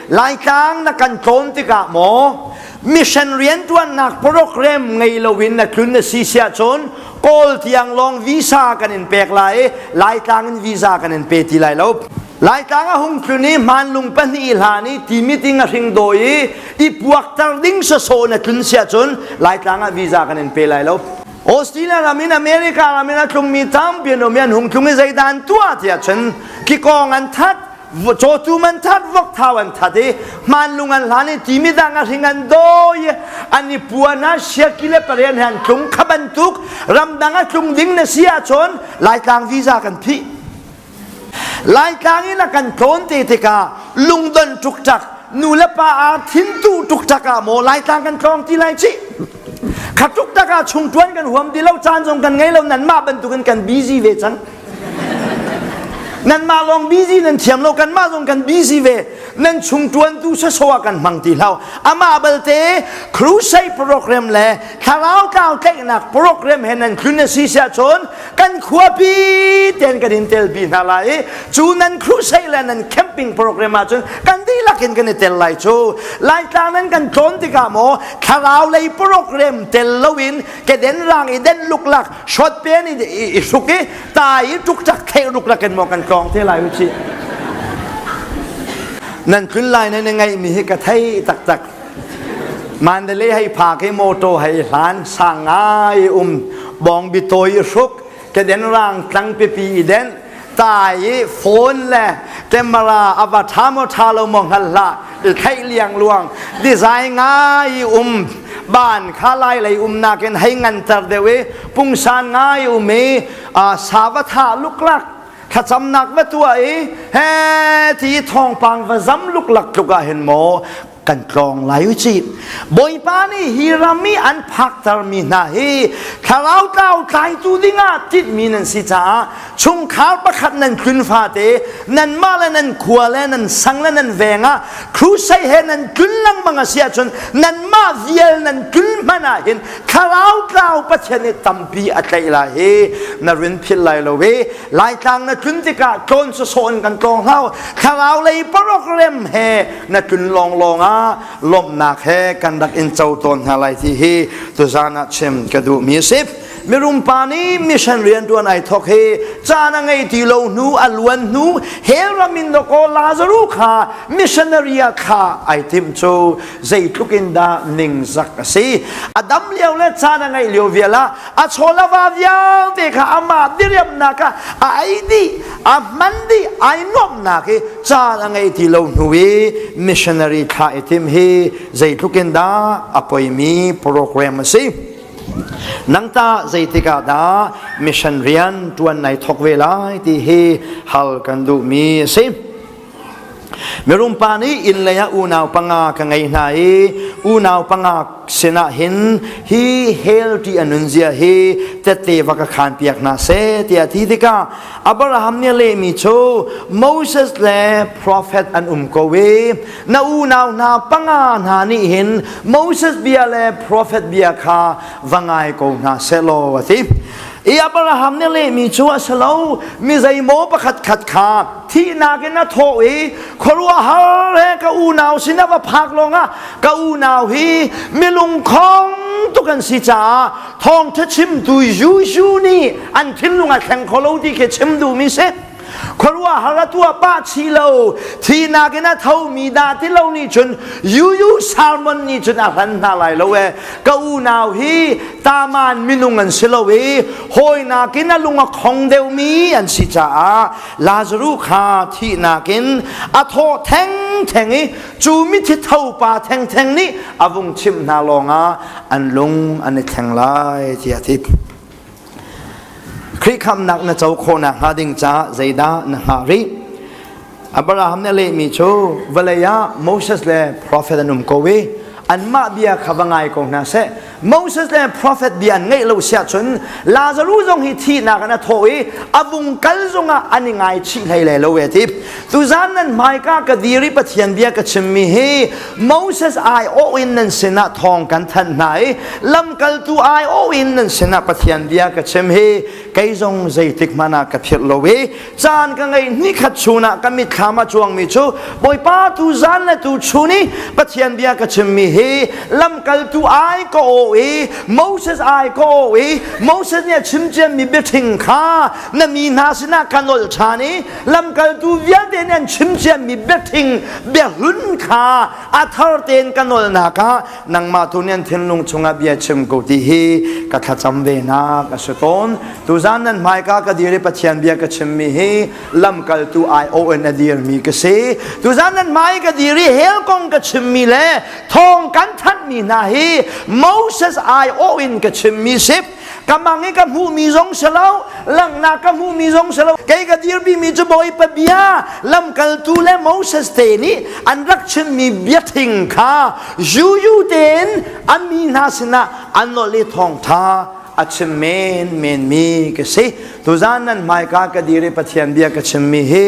Laitlang na kan tlawm tikah maw mission riantuannak program ngei loin na tlun na si siah cun Kawl tiang lawng visa kan in pek lai i Laitlang in visa kan in pe ti lai lo. Laitlang a hung tlun i hmanlung pahnih hlan i ti meeting a hring dawi i i puakter ding sasaw na tlun siah cun Laitlang ah visa kan in pe lai lo. Australia ram in America ram in a tlungmi tampi an um i an hung tlung i zeidan tuah tiah cun ki kong an that cawtu man that vok thau an that i manlung an hlan i ti midang a hring an do i an i puan ah siaki le parian he an tlung khaban tuk ramdang a tlung ding na si ahcun laitlang visa kan phih laitlang in a kan tlawn te tikah lungdon tuk nu le pa a thintu tuk tak ah maw laitlang kan tlawng ti lai ci kha tuk tak ah chung tuan kan huam ti lo caan zong kan ngei lo nan mah bantuk in kan busy ve cang Nanmah lawng busy nan thiam lo kanmah zong kan busy ve nan chung tuantu sasawa kan hmang ti hlau amah balte crusade program le thlarau tlau tlaihnak program he nan tlun a si siah cun kan khuapi ten kan in tel pi hna lai i cu nan crusade le nan camping program ah cun kan dihlak in kan i tel lai cu laitlang nan kan tlawn tikah maw thlarau lei program tel loin keden rang i den luklak shot pe ni i hruk i ta i tuk chak khek ruk rakin mo kan tlong te lai uchi nan kun lai nan ngai mi hi ka thei tak tak mandale hai pha ke moto hai hlan sangai um bong bi toy hruk ke den rang tlang pe pi den tai i phone le camera a va ṭha maw ṭha lo maw hngal hlah i theih liang luang design ngai um ban kha lai lei umnak in hei nganter deuh i pungsan ngai um i savatha luklak thlacamnak va tua i he ti thawngpang va zam luklak tluk ah hin maw kan tlawng lai u ci bawipa nih hi ram i an phakter mi hna hi thlarau tlau tlaitu dingah titmi nan si caah chungkhar pakhat nan hlun fate nan mah le nan khua le nan sang le nan veng ah crusade he nan tlun lengmang a si ahcun nan mah vial nan tlun hman ah hin thlarau tlau pathian i tampi a tlaih lai hi na rin phil lai lo hi Laitlang na tlun tikah tlon su sawn kan tlong hau thlarau lei program he na tlun lawng lawng ah lawmhnak he kan rak in co tawn hna lai ti hi tuzan ah chim ka duh mi si mirum pa nih mission rian tuan ai thok hi caan a ngei ti lo hnu a luan hnu hel ramin do ko Lazaru kha missionary a kha ai tim chu zeitluk in dah ning zak a si adam lio le caan a ngei lio viala a chawlava vialte kha amah diriamnak ah a ei dih a hman dih ai nuamhnak hi caan a ngei ti lo hnu i missionary tha i thim hi zeitluk in dah a poimi program a si nang ta zeitik ah dah mission rian tuan nai thok ve lai ti hi hal kan duhmi a si Mirum pa nih inn lei ah unau panga ka ngei hna i unau panga sinah hin hi hell ti a nunzia hi tette va ka khaan piak hna seh tiah a ti tikah Abraham nih a lehmi cu Moses le profet an um ko i na unau hna panga hna nih hin Moses bia le profet bia kha va ngai ko hna seh law a ti. i Abraham nih lehmi cu a si lo mi zeimaw pakhat khat kha thihnak in a thawh i khuaruahhar he ka unau sin a va phak lawngah ka unau hi mi lungkhong tuk an si caah thawngṭha chimtu Jesuh nih an thinlung a thleng kho lo ti khi chim duhmi si khuarua har a tua pah chi lo thihnak in a thomi da ti lo nih cun yuyu salmon nih cun a hlan hna lai lo e ka unau hi taman minung an si lo i hawinak in a lung a khong deuhmi an si caah lazaru kha thihnak in a thaw thengtheng i cu mithi thopa thengtheng nih a vung chimh hna lawngah an lung an i theng lai tiah a ti Khrih khamnak na co khawhnak hnga ding ca zeidah na hngah rih? Abraham nih a lehmi cu vawlei ah Moses le profet an um ko i anmah bia kha va ngai ko hna seh. Moses le profet bia an ngeih lo siah cun Lazaru zong hi thihnak in a thawh i a vung kal zongah an i ngaichih hlei le lo e ti. Tuzan nan hmaika ka dir i Pathian bia ka chimmi hi Moses ai awh in nan sinah thawng kan thanh hna i lamkaltu ai awh in nan sinah Pathian bia ka chim hi kei zong zeitik hmanh ah ka philh lo i caan ka ngei nikhat chun ah ka mitthlam a cuangmi cu Bawipa tuzan le tuchun i Pathian bia ka chimmi hi lamkaltu ai ka awh i Moses ai ka awh i Moses nih a chim ciammi biathing kha na mi hna sinah kan ol ṭhan i lamkaltu vialte nih an chim ciammi biathing biahlun kha a thar tein ka nawlnak ah nangmah tu nih an thinlung chungah bia chim ko ti hi ka thlacam ve na ka si tawn tuzan nan hmaika ka dir i pathian bia ka chimmi hi lamkaltu ION a dirmi ka si tuzan nan hmai ka dir i hell kong ka chimmi le thawng kan thanhmi hna hi Moses ION ka chimmi sip ka mang i ka hmuhmi zong si lo langhnak ka hmuhmi zong si lo kei ka dirpimi cu bawipa bia lamkaltu le moses te nih an rak chimmi biathing kha yuyu tein an mi hna sinah an nolh i thawngtha a chim men menmi ka si tuzan nan hmaika ka dir i pathian bia ka chimmi hi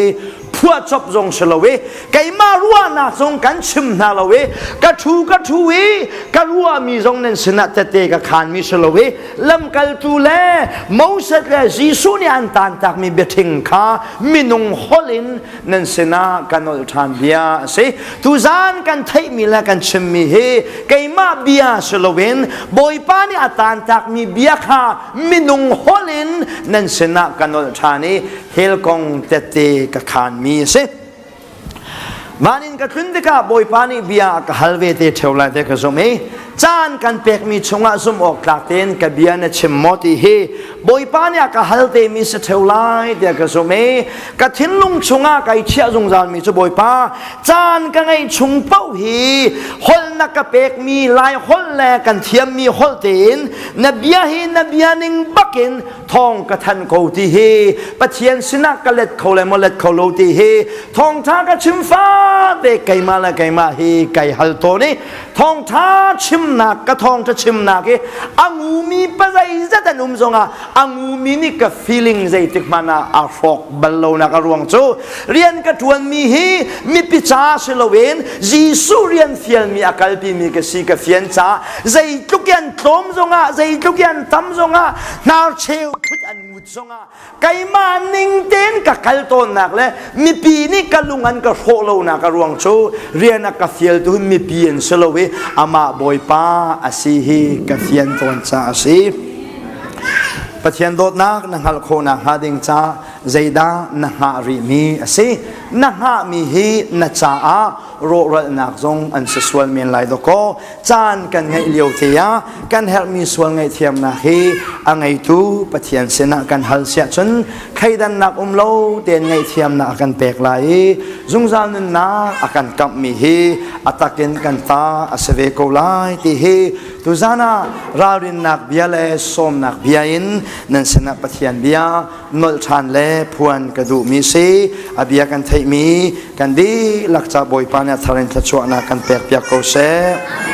phuahcop zong si lo i keimah ruahnak zong kan chim hna lo i ka thu ka thu i ka ruahmi zong nan sinah tete ka khanmi si lo i lamkaltu le Moses le Jesuh nih an tantakmi biathing kha minung holh in nan sinah kan olh ṭhan bia a si tuzan kan theihmi le kan chimmi hi keimah bia si loin Bawipa nih a tantakmi bia kha minung holh in nan sinah kan olh ṭhan i hell kong tete ka khanmi a si van in ka tlun tikah bawipa nih bia ka hal ve te theo lai te ka zumh i caan kan pekmi chungah zumh awk tlak tein ka bia na chim maw ti hi bawipa nih a ka hal te mi se theo lai te ka zumh i ka thinlung chungah kai chiah zungzalmi cu bawipa caan ka ngei chung pauh hi holhna ka pekmi lai holh le kan thiammi holh tein na bia hi na bia ning bakin thawng ka thanh ko ti hi pathian sinak ka let kho le maw let kho lo ti hi thawngtha ka chim fa ve keimah le keimah hi kai hal to ni thawngtha chimnak ka thawngtha chimnak hi angumi pa zeizat an um zongah angumi nih ka feeling zeitik hmanah a hrawk bal lonak a ruang cu rian ka tuan mi hi mipi ca si loin Jesuh rian fial mi a kalpi mi ka si ka fian ca zeitluk yan tlawm zongah zeitluk yan tam zongah hnarcheu phut an ngut zongah keimah ning tein ka kal tawnnak le mipi nih ka lung an ka hrawh lonak a ruang cu rian a ka fialtu hun mipi an si lo i amah bawipa a si hi ka fian tawn ca a si Pathian dawtnak na hngalh khawh nakhnga ding ca zeidah na hngah rihmi a si na hngahmi hi na caah rawhralnak zong an si sual men lai dawkaw caan kan ngeih lio te ah kan herhmi sual ngaihthiamnak hi a ngeitu Pathian sinah kan hal siah cun thleidannak um lo tein ngaihthiamnak a kan pek lai i zungzal nunnak a kan kamhmi hi a takin kan ta a si ve ko lai ti hi tuzan ah ralrinnak bia le sawmnak bia in nan sinah Pathian bia nolh ṭhan le phuan ka duhmi si a bia kan theihmi kan dihlak ca Bawipa nih a thar in thluachuahnak kan pekpiak ko seh.